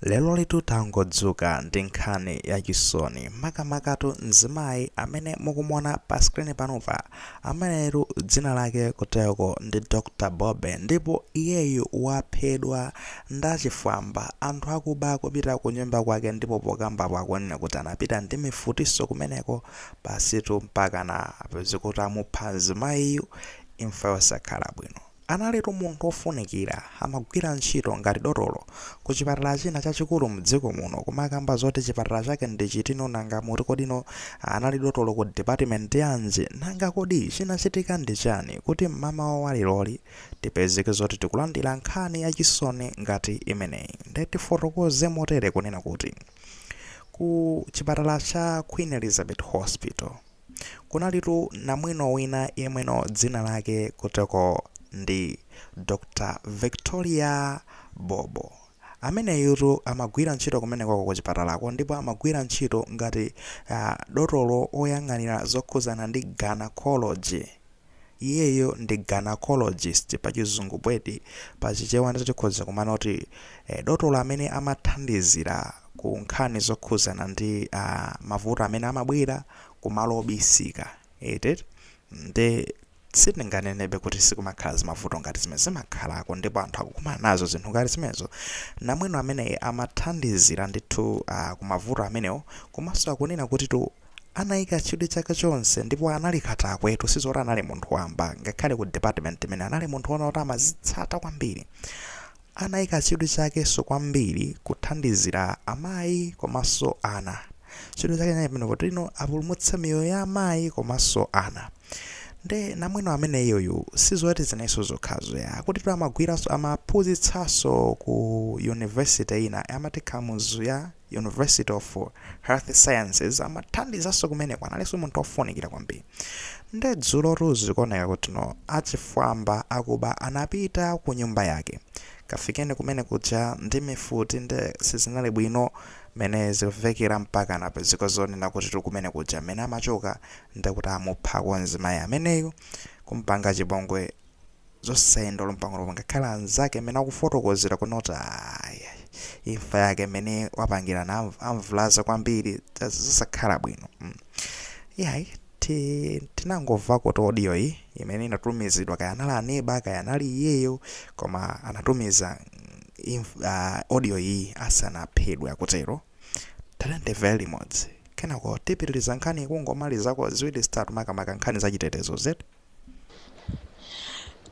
Lerolitu tangodzuka ndi nkhani yachisoni makamakatu mzimayi amene mukumuona pa screen panupa. Ameneyitu dzina lake kuteroko ndi Dr Bobe ndipo iyeyu waphedwa ndachifwamba. Anthu akuba akupita kunyumba kwake ndipo pokambapo akunena kuti anapita ndi mifutinso kumeneko basitu mpakana apeze kuti amupha mzimayiyu imfa yosakhala bwino. Analitu munthu ofunikira, amagwira ntchito ngati dotolo ku chipatala china chachikulu mdziko muno kumakamba zoti chipatala chake ndi chitino nanga kuti kodi no anali dotolo ku department yanji nanga kodi chinachitika ndi chani kuti mmamawa wa leroli tipezeke zoti tikulandira nkhani ya chisoni ngati imeneyi nde tifotokoze motere kunena kuti ku chipatala cha Queen Elizabeth Hospital Kunalitu namwino wina yemweyo dzina lake kuteroko ndi Dr Victoria Bobe. Ameneyutu amagwira ntchito kumenekoko kuchipatalako ndipo amagwira ntchito ngati dotolo oyang'anira zokhuzana ndi gynaecology. Iyeyo ndi gynaecologist pachizungu mwedi pachichewa ndizoti tikhoza kumanena kuti dotolo amene amathandizira ku nkhani zokhuzana ndi mavuto amene amabwera kumalo obisika eti nde sitinganenebe kuti sikumakhala zimavuto ngati zimenezo zimakhalako ndipo anthu akukumana nazo zinthu ngati zimenezo namwino ameneyi amathandizira ndithu kumavuto amenewo komanso akunena kutitu Anaika chidwi chake chonse ndipo anali katakwetu sizoti anali munthu wamba ngakhale ku department imene anali munthu wona kuti amazitsata kwambiri. Anaika chidwi chakenso kwambiri kuthandizira amayi komanso ana. Chidwi chake chinali pamenepo kuti no apulumutsa miyoyo ya amayi komanso ana. Nde namwino ameneyu sizoti zinalinso zokhazo ayi akutitu amagwiranso amaphunzitsanso ku university ina amati Kamuzu ya. University of Health Sciences amathandizanso kumeneko analinso munthu ofunikira kwambiri nde dzulotu zikuoneka kuti no achifwamba akuba anapita ku nyumba yake kafikeni kumene kuja ndi mifuti nde sizinali bwino mmene zikumvekera mpaka anapezeka zonena kutitu kumene kuja mmene amachoka ndekuti amupha kamzimayi ameneyu kumpanga chipongwe zosayenda olo mpang'ono ngakhale anzake mmene akufotokozera kuti no ayayi imfa yake mmene wapangira na amv- amuvulaza kwambiri zas- zosakhala bwino mm. yayi ti- tinangomvakotu audio iyi imene inatumizidwa kaya anali aneba kaya anali iyeyo koma anatumiza mm, inf- ah, audio iyi asanaphedwe akutero taleni timve limodzi kenako tipitiriza nkhani kungomalizako ziwiri zitatu makamaka nkhani za chitetezo zetu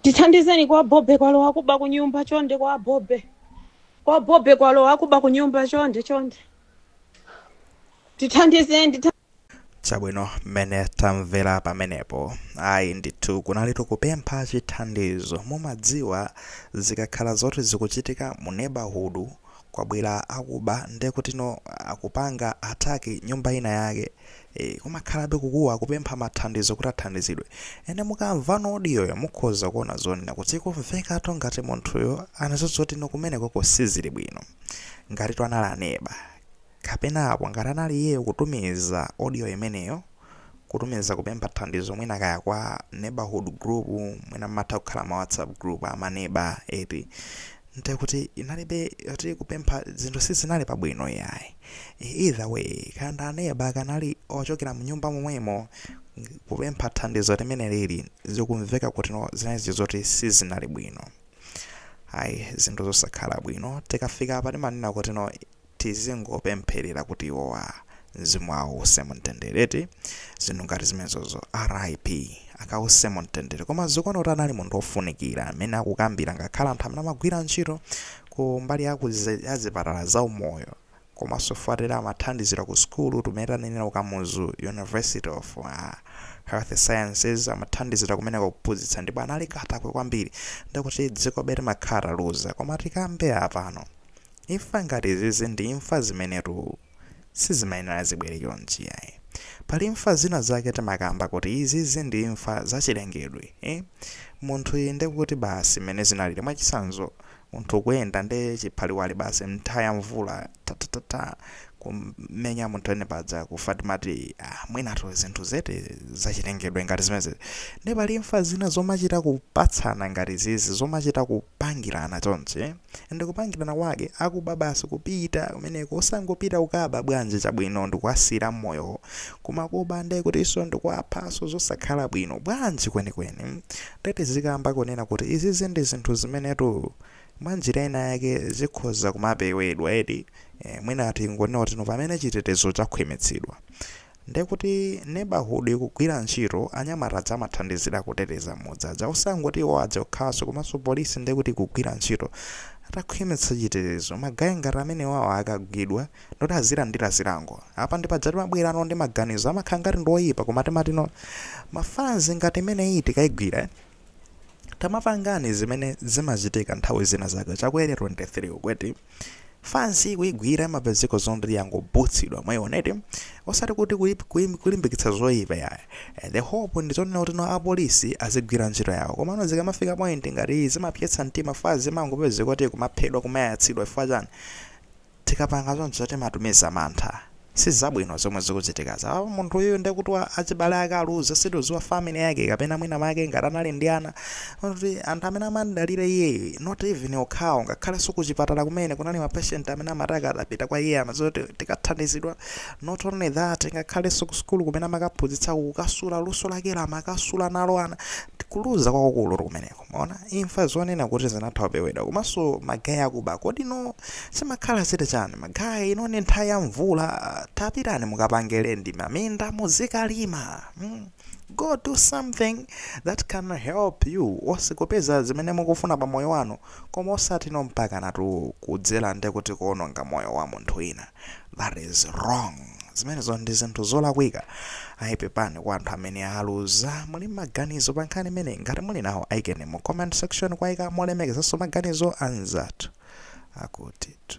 tithandizeni kwa bobe kwalowa akuba kunyumba chonde kwa bobe kwa bobe kwalowa akuba kunyumba chonde chonde tithandizeni titha- chabwino mmene tamvera pamenepo ayi ndithu kunali tikupempha chithandizo mumadziwa zikakhala zoti zikuchitika mu neighborhood kwabwera akuba ndekutino akupanga ataki nyumba ina yake Eee koma kumakhalabe kukuwa kupempha mathandizo kuti athandizidwe and mukamva audio yo mukhoza kuona zonena kuti zikumvekatu ngati munthuyo anaziona kuti no kumenekoko sizili bwino ngati anali aneba kapena apo ngati anali iyeyo kutumiza audio imeneyo kutumiza kupempha thandizo mwina kaya kwa neighborhood group mwina mmatha kukhala ma whatsapp group amaneba eti nde kuti inalibe kuti kupempha zinthu sizinali pabwino iyayi either way kaya ndi aneba kaya anali ochokera mnyumba momwemo kupempha thandizo mmene zilili zikumveka kuti no zinali zoti sizinali bwino ayi zinthu zosakhala bwino tikafika apa timanena kuti no tizingopempherera kuti iwowa mzimu wawo uuse mumtendere eti zinthu ngati zimenezozo rip akawuse mumtendere koma zikuoneka kuti anali munthu ofunikira amene akukambira ngakhale anthu amene amagwira ntchito ku mbali ya ya zipatala za umoyo komanso poti amathandizira ku sukulu mmene tanenera ku kamuzu university of uh, health sciences amathandizira kumeneko kuphunzitsa ndipo anali katakwe kwambiri ndikuti dzikobe timakhala taluza koma tikambe apano Imfa ngati izizi ndi imfa zimenetu sizimayenera zibwere chonchi yayi. Pali imfa zina zake timakamba kuti izizi ndi imfa zachilengedwe eh. Munthuyi nde kuti basi mmene zinalili mwachitsanzo munthu ukuyenda nde chiphaliwali basi nthawi ya mvula ta ta ta ta kummenya munthu and paja kufa timati ah mwinatu zinthu zeti zachilengedwe ngati zimenezi. Nde pali imfa zina zomachita kupatsana ngati izizi zomachita kupangirana chonchi eh. and kupangirana kwake akuba basi kupita kumeneko osangopita kukaba bwanji chabwino ndikuwasiyira moyowo koma kuba nde kutinso ndikuwaphanso zosakhala bwino bwanji kwenikweni nde tizikamba kunena kuti izizi ndi zinthu zimenetu mwanjira ina yake zikhoza kumapewedwa eti eh, mwina tingonena kuti no pamene chitetezo chakhwimitsidwa Ndekuti neighborhood ikugwira ntchito, anyamata aja amathandizira kuteteza mudzi aja, osangoti iwo aja okhaso komanso police ndekuti ikugwira ntchito, atakhwimitsa chitetezo ma guy ngati amenewawa akagwidwa ndekuti azilandira zilango, apa ndipaja timabwerano ndi maganizo amakhala ngati ndioyipa koma timati no ma fanz ngati imeneyi tikaigwira tamapangani zimene zimachitika nthawi zina zake chakwere 23 uku eti. fans kuigwira map ya zekozomwe yangobutsidwa mwayiona eti osati kuti kuip- kuim- kulimbikitsa zoyipa iyayi Eh, the hope ndi zonena kuti no apolisi azigwira ntchito yawo komano zikamafika point ngati iyi zimapweteketsa mtima fans imangopezeka kuti kumaphedwa kumayatsidwa chifukwa chani tikapanga zonse timatumiza mantha Sizabwino zomwe zikuchitikazi apapa munthuyu nde kuti achibale ake aluza sitikudziwa family yake kapena mwina mwake ngati anali ndi ana oti anthu amene amamdalira iyeyu not even okhawo ngakhalenso kuchipatala komwe kunali ma patient amene amati akadapita kwa iye amadziwa kuti tikathandizidwa not only that ngakhalenso ku sukulu kumene amakaphunzitsako kukasiya luso lakelo amakasula nalo ana kuluza kwakukulutu kumeneko. Mwaona, imfa zonena kuti inatha kupewedwa komanso magaye akuba kodi inu zimakhala zili chani magaye ino ndi nthawi ya mvula tapitani mukapange rent maminda muzikalima mm. go do something that can help you osakupeza zimene mukufuna pa moyo wanu koma osati inu mpakanatu kudzera nde kuti kuononga moyo wa munthu wina That is wrong. Zimenezo ndi zinthu zolakwika. Ayi pepani kwa anthu amene aluza. Muli maganizo pa nkhani imeneyi? Ngati muli nawo aikeni mu comment section kuwaika molemekezanso maganizo a anzathu akutitu.